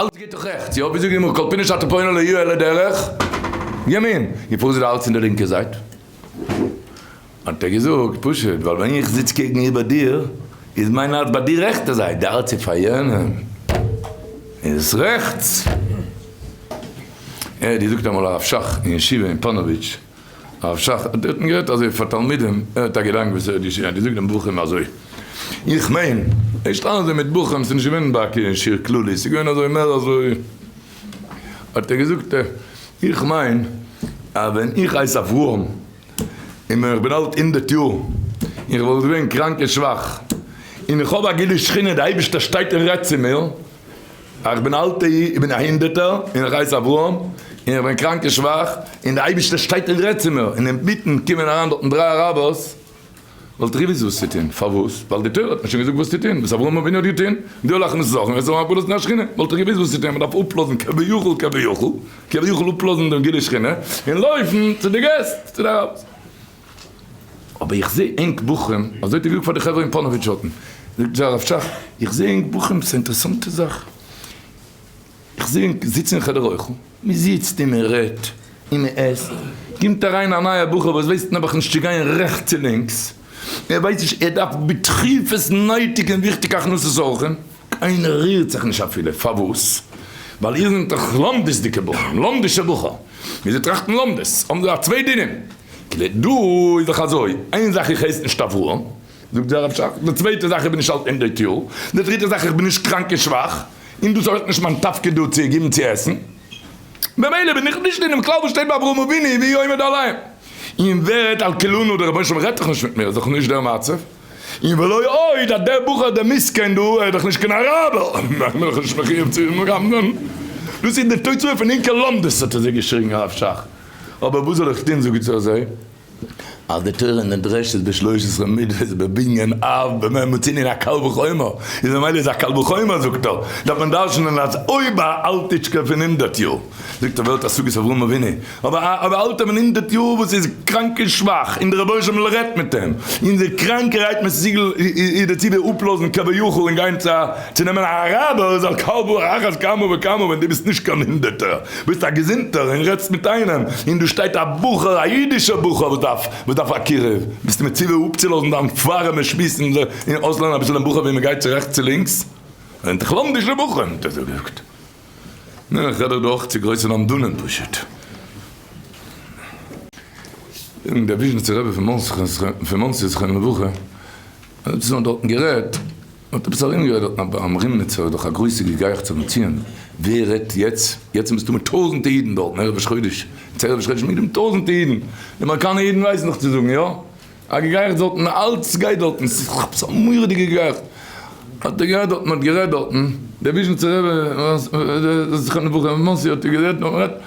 אלץ גייט דאך רעכטס, יא? וויאזוי גיימיר כל פינה שאתה פונה לא יהיה אלא דרך ימין? די פרעה זעט אלץ אין די לינקע זייט. האט ער געזאגט, פשוט, ווייל ווען איך זיץ קעגן איבער דיר, איז מיין הארץ ביי די רעכטע זייט, די הארץ פאר יענעם איז רעכטס. ער האט געזאגט אמאל הרב שך אין ישיבה אין פאנאוויטש. הרב שך האט דערטן גערעדט אזוי פאר תלמידים, ער האט א געדאנק וואס ער האט געשריבן, ער האט געזאגט דעם בחורים אזוי, איך מיין, ערשט אלעס דער מיט בחורים, ס'איז נישט געווען ביי א קרן שיעור כללי, ס'איז געווען אזוי מער אזוי, האט ער געזאגט, איך מיין אז ווען איך הייס אברהם, און ווען איך בין אלט הונדערט יאר, און איך וואלט געווען קראנק און שוואך, און איך האב א גילו שכינה, די אייבערשטער שטייט און רעדט צו מיר, איך בין אלטע אי, איך בין א הינדערטער, און איך הייס אברהם, און איך בין קראנק און שוואך, און די אייבישטער שטייט און רעדט צו מיר, און אינמיטן קומען אריין דארטן דריי אראבערס, וואלט איך געוויסט וואס צו טון, פארוואס? ווייל די תורה האט מיר שוין געזאגט וואס צו טון, וואס אברהם אבינו האט געטון, די הולך מיט זאכן, וועסט האבן הפלות מן השכינה, וואלט איך געוויסט וואס צו טון, מען דארף אפלאזן כביכול כביכול כביכול אפלאזן דעם גילוי שכינה, און לויפן צו די געסט, צו די אראבערס. אבער איך זעה ענק בחורים, אזוי האט ער געזאגט פאר די חברה אין פאנאוויטש הוטן, זאגט זיי הרב שך, איך זעה ענק בחורים, ס'איז א אינטערעסאנטע זאך, איך זעה ענק זיצן אין חדר אוכל, מען זיצט און מען רעדט און מען עסט, קומט אריין א נייער בחור וואס ווייסט נעבעך נישט צו גיין רעכטס און לינקס, ער ווייסט נישט, ער דארף בדחיפות נייטיג און וויכטיג הכנסת אורחים, קיינער רירט זיך נישט אפילו, פארוואס? ווייל איר זענט דאך לומדות'דיגע בחורים, לומדישע בחור, און זיי טראכטן לומדות, האבן זיי א צוויי דינים. כ'זעה דא איז דאך אזוי, איין זאך איך הייס נישט אברהם, זאגט דער רב שך, די צווייטע זאך איך בין נישט אלט אין די טיול, די דריטע זאך איך בין נישט קראנק און שוואך, און דאס איז אויך נישט מיין תפקיד דא צו גיבן צו עסן, ממילא בין איך נישט אינעם כלל וואס שטייט ביי אברהם אבינו והיא עומד עליהם, און ווערט על כולנו דער רבונו של עולם רעדט דאך נישט מיט מיר, איז דאך נישט דער מצב, און ולא עוד אז דער בחור דער מסכן דא ער איז דאך נישט קיין אראבער, בין איך נישט מחיוב צו אים רמז'ן, דאס איז די תוצאה פון ענקער לומדות האט ער זיך געשריגן הרב שך, אבער וואס זאל איך טון זאג איך צו אזוי אז די תורה נדרשת בשלוש עשרה מידות בבנין אב במ' מוצנין א קל וחומר איז ממילא איז א קל וחומר זאגט ער דארף מען דרשנען אז אויב א אלטיטשקע פון הונדערט יאר זאגט ער ווער האט השגות אברהם אבינו אבער א אבער אלטער פון הונדערט יאר וואס איז קראנק און שוואך און די רבונו של עולם רעדט מיט אים און די קראנקערהייט מיט סיגל איז דערצו די אפלאזן כביכול און גיין צו א צו נעמען א רב ער איז א קל ואחד כמה וכמה ווען דו ביסט נישט קיין הונדערטער ביסט א געזונטער און רעדסט מיט איינעם און דא שטייט א בחור א אידישער בחור וואס דארף וואס דארף א קירוב ביסט מציווי אפצולאזן דיין ווארעמע שמועס און אויסלערנען אביסל דעם בחור ווי מען גייט צו רעכטס צו לינקס און דיך לאזן די שטוב בחורים האט ער זאגט נו איך רעד דאך דא אויך צו גרויסע למדנים פשוט און דער וויזשניצער רבי פון מאנסי זכרון לברכה האט דארטן גערעדט. מען האט עפעס ארום גערעדט אויף ביים רימניצער איז דאך א גרויסע געגייעכטס אויפן ציון, ווער רעדט יעצט, יעצט ביסטו מיט טויזענטע אידן דארטן ערב ראש חודש, יעצט ערב ראש חודש מיט די טויזענטע אידן, די אמעריקאנע אידן ווייסן דאך צו זאגן יא, א געגייעכטס דארטן, אלץ גייט דארטן, ס'איז דאך עפעס א מורא'דיגע געגייעכטס, האט ער גערעדט דארטן, מען האט גערעדט דארטן, דער וויזשניצער רבי, זכרון לברכה, מאנסי האט ער גערעדט, מען האט גערעדט.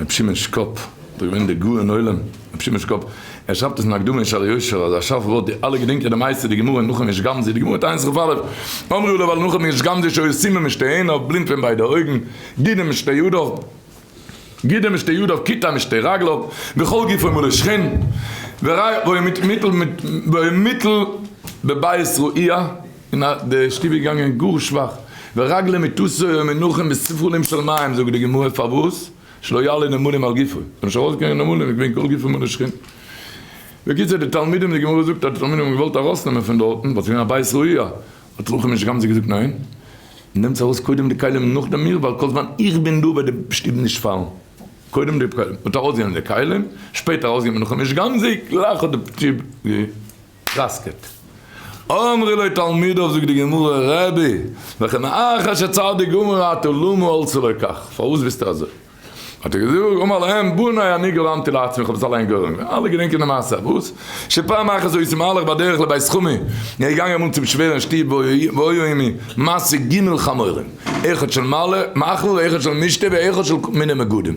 ר' שמעון שקאפ, דאס איז געווען דער גאון עולם ר' שמעון שקאפ, ער שרייבט עס אין הקדמה אין שער היושר אז א שארף ווארט די אלע געדענקען די מעשה די גמרא אין נחום איש גמזו די גמרא תענית ח ו אמרו לו ועל נחום איש גמזו שהיו סומים משתי עיניו בלינד פון ביידע אויגן גידים משתי ידיו גידים משתי ידיו כיתה משתי רגליו וכל גופו מלא שחין וריח והיו מיטל בבית רואיה און אט די שטוב איז געגאנגען גאר שוואך, ורגלי מתוסה ומנוחין בספרולים של מים, זאגט די גמרא, פארוואס? שלא יעלה נמלים על גופו, ס'זאל נישט ארויסגיין נמלים, איז געווען כל גופו מנושכין. בקיצור די תלמידים, די גמרא זאגט אז די תלמידים האבן געוואלט ארויסנעמען פון דארטן, ווייל ס'איז געווען א בית ראיה, האט רחל משי גמזו געזאגט ניין, נעמטס ארויס קודם די כלים און נאכדעם מיר, ווייל כל זמן איך בין דא וועט די שטוב נישט פאלן, קודם די כלים, אט ארויסגענומען די כלים, שפעטער ארויסגענומען רחל משי גמזו, גלייך האט די שטוב גע. טראסקעט. אמרי לו תלמידיו זאגט די גמרא רבי וכי מאחר שצדיק גמור הייתה למה הולכו לו כך פארוואס ביסטו אזוי האט ער געזאגט אמר להם בניי אני גרמתי לעצמי איך האב עס אליין גורם געווען אלע געדענקען די מעשה פארוואס שפעם אחת איז יוסי מהלך בדרך לבית חמי און ער איז געגאנגען אמאל צום שווער אין שטוב והיו עמו מעשה ג' חמורים אחד של מעלה מאכל ואחד של משתה ואחד של מיני מגדים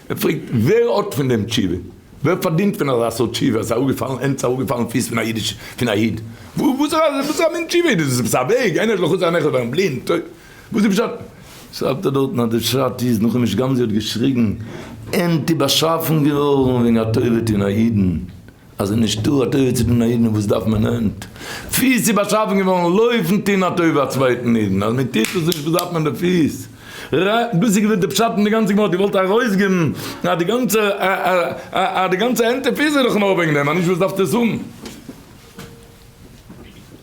ער פרעגט ווער האט פון דעם תשובה? ווער פארדינט פון אזא סארט תשובה אז ס'איז אראפגעפאלן ענדס אראפגעפאלן פיס פון א אידיש פון א איד? וואס איז א מין תשובה איז דאס? איז עפעס א וועג? איינער האט לחצן א נעכל ווערן בלינד? טוי וואס איז פשט? שרייבט ער דארטן אז די פשט איז נאכדעם וואס גנזי האט געשריגן ענטי באשאפן געווארן וועגן א טובה טון א אידן. אז עס איז נישט דא א תורה צו טון א אידן וואס דארף מען הענט פיס צו באשאפן געווארן לויפן טון א טובה א צווייטן אידן אז מען טוט עס נישט וואס דארף מען די פיס ר דאס איז געווען די פשט אין די גאנצע גמרא די וואלט ארויסגעבן אז די גאנצע אז די גאנצע הענט און פיס איז דאך נאר וועגן דעם אז נישט וואס דארפסטו עס האבן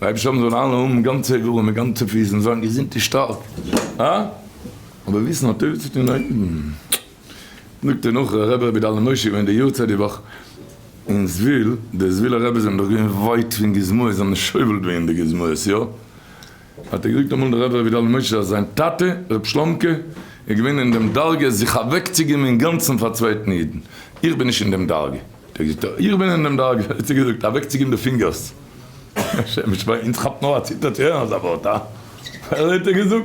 לייב שבת זאלן אלע האבן גאנצע איברים און גאנצע פיס און זיין געזונט און שטארק אבער וויסן א טובה צו טון א אידן. זאגט דער נאכער רבי רבי דליה משה געווען די יארצייט די וואך אין זוויל, די זווילער רעבעס זענען דאך געווען ווייט פון גוזמאות זיי האבן שובל געווען די גוזמאות יא, האט ער געזאגט אמאל דער רבי רבי דליה משה אז זיין טאטע רבי שלומ'קע איז געווען אין דעם דרגה זיך אוועק צו געבן אינגאנצן פאר צווייטן אידן, איך בין נישט אין דעם דרגה, האט ער געזאגט איך בין אין דעם דרגה, האט ער געזאגט אוועק צו געבן די פינגערס, השם ישמור, אונז כאפט נאר א ציטער צו הערן אזא ווארט הא, האט ער געזאגט.